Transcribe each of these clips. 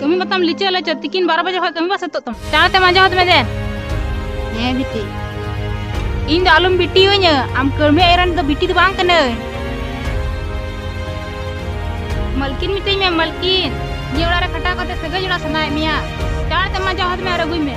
ᱠᱟᱹᱢᱤ ᱢᱟᱛᱟᱢ ᱞᱤᱪᱟᱹ ᱞᱟᱪᱟᱹ ᱛᱤᱠᱤᱱ ᱵᱟᱨᱚ ᱵᱟᱡᱮ ᱠᱷᱚᱱ ᱠᱟᱹᱢᱤ ᱵᱟ ᱥᱟᱹᱛᱚᱜ ᱛᱟᱢᱟ ᱪᱟᱬ ᱛᱮᱢ ᱟᱸᱡᱚᱢ ᱦᱟᱛ ᱢᱮ ᱫᱮ ᱦᱮᱸ ᱵᱤᱴᱤ ᱤᱧ ᱫᱚ ᱟᱞᱚᱢ ᱵᱤᱴᱤᱭᱟᱹᱧᱟ ᱟᱢ ᱠᱟᱹᱲᱢᱤ ᱮᱨᱟᱱ ᱫᱚ ᱵᱤᱴᱤ ᱫᱚ ᱵᱟᱝ ᱠᱟᱹᱱᱟᱹᱧ ᱢᱟᱞᱠᱤᱱ ᱢᱤᱛᱟᱹᱧ ᱢᱮ ᱢᱟᱞᱠᱤᱱ ᱱᱤᱭᱟᱹ ᱚᱲᱟᱜ ᱨᱮ ᱠᱷᱟᱴᱟᱣ ᱠᱟᱛᱮ ᱥᱟᱹᱜᱟᱹᱭ ᱡᱚᱲᱟᱣ ᱥᱟᱱᱟᱭᱮᱫ ᱢᱮᱭᱟ ᱪᱟᱬ ᱛᱮᱢ ᱟᱸᱡᱚᱢ ᱦᱟᱛ ᱢᱮ ᱟᱨ ᱟᱹᱜᱩᱭ ᱢᱮ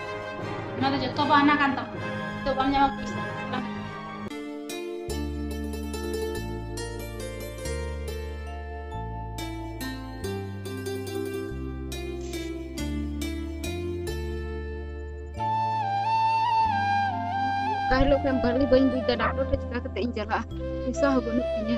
ᱚᱱᱟ ᱫᱚ ᱡᱚᱛᱚ ᱵᱚ ᱟᱱᱟ ᱠᱟᱱ ᱛᱟᱵᱚᱱᱟ ᱛᱚ ᱵᱟᱢ ᱧᱟᱢᱟ ᱯᱚᱭᱥᱟ ᱠᱟᱦᱞᱚ ᱠᱷᱟᱱ ᱵᱟᱞᱤ ᱵᱟᱹᱧ ᱵᱩᱡ ᱫᱟ ᱰᱟᱠᱴᱚᱨ ᱴᱷᱮᱱ ᱪᱤᱠᱟ ᱠᱟᱛᱮ ᱤᱧ ᱪᱟᱞᱟᱜᱼᱟ ᱯᱚᱭᱥᱟ ᱦᱚᱸ ᱵᱟᱹᱱᱩᱜ ᱛᱤᱧᱟ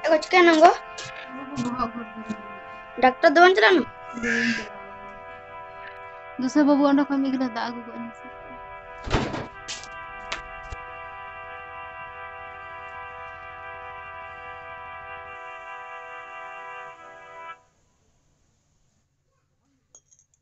ᱪᱮᱫ ᱠᱚ ᱪᱤᱠᱟᱹᱭ ᱱᱟᱝᱜᱚ ᱰᱟᱠᱛᱟᱨ ᱫᱚ ᱵᱟᱝ ᱪᱟᱞᱟᱜ ᱱᱟ ᱫᱩᱥᱮ ᱵᱟᱹᱵᱩ ᱚᱸᱰᱮ ᱠᱷᱚᱱ ᱢᱤᱫ ᱜᱤᱞᱟᱹ ᱫᱟᱜ ᱟᱹᱜᱩ ᱠᱚᱜ ᱢᱮᱥᱮ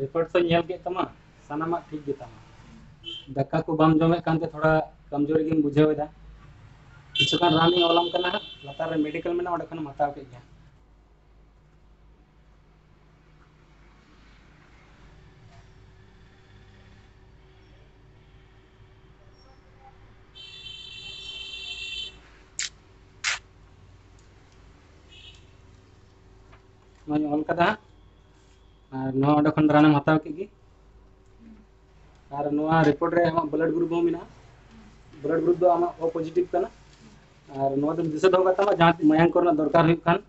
ᱨᱮᱠᱚᱨᱰ ᱠᱚᱧ ᱧᱮᱞ ᱠᱮᱫ ᱛᱟᱢᱟ ᱥᱟᱱᱟᱢᱟᱜ ᱴᱷᱤᱠ ᱜᱮ ᱛᱟᱢᱟ ᱫᱟᱠᱟ ᱠᱚ ᱵᱟᱢ ᱡᱚᱢᱮᱫ ᱠᱟᱱᱛᱮ ᱛᱷᱚᱲᱟ ᱠᱚᱢᱡᱳᱨᱤ ᱜᱮᱢ ᱵᱩᱡᱷᱟᱹᱣ ᱮᱫᱟ ᱠᱤᱪᱷᱩ ᱜᱟᱱ ᱨᱟᱱᱤᱧ ᱚᱞᱟᱢ ᱠᱟᱱᱟ ᱦᱟᱸᱜ ᱞᱟᱛᱟᱨ ᱨᱮ ᱢᱮᱰᱤᱠᱮᱞ ᱢᱮᱱᱟᱜᱼᱟ ᱚᱸᱰᱮ ᱠᱷᱚᱱᱮᱢ ᱦᱟᱛᱟᱣ ᱠᱮᱫ ᱜᱮ ᱱᱚᱣᱟᱧ ᱚᱞ ᱠᱟᱫᱟ ᱦᱟᱸᱜ ᱟᱨ ᱱᱚᱣᱟ ᱚᱸᱰᱮ ᱠᱷᱚᱱ ᱨᱟᱱᱮᱢ ᱦᱟᱛᱟᱣ ᱠᱮᱫ ᱜᱮ ᱟᱨ ᱱᱚᱣᱟ ᱨᱤᱯᱳᱨᱴ ᱨᱮ ᱟᱢᱟᱜ ᱵᱞᱟᱰ ᱜᱨᱩᱯ ᱦᱚᱸ ᱢᱮᱱᱟᱜᱼᱟ ᱵᱞᱟᱰ ᱜᱨᱩᱯ ᱫᱚ ᱟᱢᱟᱜ ᱳ ᱯᱚᱡᱤᱴᱤᱵᱷ ᱠᱟᱱᱟ ᱟᱨ ᱱᱚᱣᱟ ᱫᱚᱢ ᱫᱤᱥᱟᱹ ᱫᱚᱦᱚ ᱠᱟᱜ ᱛᱟᱢᱟ ᱡᱟᱦᱟᱸ ᱛᱤᱥ ᱢᱟᱭᱟᱝ ᱠᱚᱨᱮᱱᱟᱜ ᱫᱚᱨᱠᱟᱨ ᱦᱩᱭᱩᱜ ᱠᱷᱟᱱ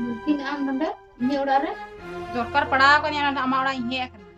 ᱢᱩᱞᱠᱤ ᱟᱢ ᱱᱚᱰᱮ ᱤᱧᱟᱹᱜ ᱚᱲᱟᱜ ᱨᱮ ᱫᱚᱨᱠᱟᱨ ᱯᱟᱲᱟᱣ ᱠᱟᱹᱧᱟ ᱱᱚᱰᱮ ᱟᱢᱟᱜ ᱚᱲᱟᱜ ᱤᱧ ᱦᱮᱡ ᱟᱠᱟᱱᱟ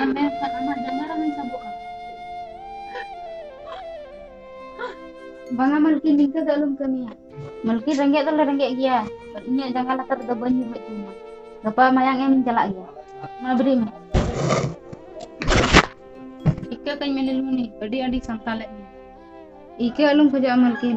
ᱟᱢ ᱢᱮᱱᱠᱷᱟᱱ ᱟᱢᱟᱜ ᱡᱟᱸᱜᱟ ᱨᱮ ᱦᱚᱧ ᱥᱟᱵᱚᱜᱼᱟ ᱵᱟᱝᱟ ᱢᱟᱞᱠᱤ ᱱᱤᱝᱠᱟᱹ ᱫᱚ ᱟᱞᱚᱢ ᱠᱟᱹᱢᱤᱭᱟ ᱢᱟᱞᱠᱤ ᱨᱮᱸᱜᱮᱡ ᱫᱚᱞᱮ ᱨᱮᱸᱜᱮᱡ ᱜᱮᱭᱟ ᱤᱧᱟᱹᱜ ᱡᱟᱸᱜᱟ ᱞᱟᱛᱟᱨ ᱨᱮᱫᱚ ᱵᱟᱹᱧ ᱧᱩᱨ ᱦᱚᱪᱚ ᱟᱢᱟ ᱜᱟᱯᱟ ᱢᱟᱭᱟᱝ ᱮᱢᱤᱧ ᱪᱟᱞᱟᱜ ᱜᱮᱭᱟ ᱢᱟ ᱵᱮᱨᱮᱫ ᱢᱮ ᱤᱠᱟᱹ ᱠᱟᱹᱧ ᱢᱮ ᱱᱤᱞᱢᱩᱱᱤ ᱟᱹᱰᱤ ᱟᱹᱰᱤ ᱥᱟᱱᱛᱟᱞᱮᱫ ᱢᱮ ᱤᱠᱟᱹ ᱟᱞᱚᱢ ᱠᱷᱚᱡᱚᱜᱼᱟ ᱢᱟᱞᱠᱤᱱ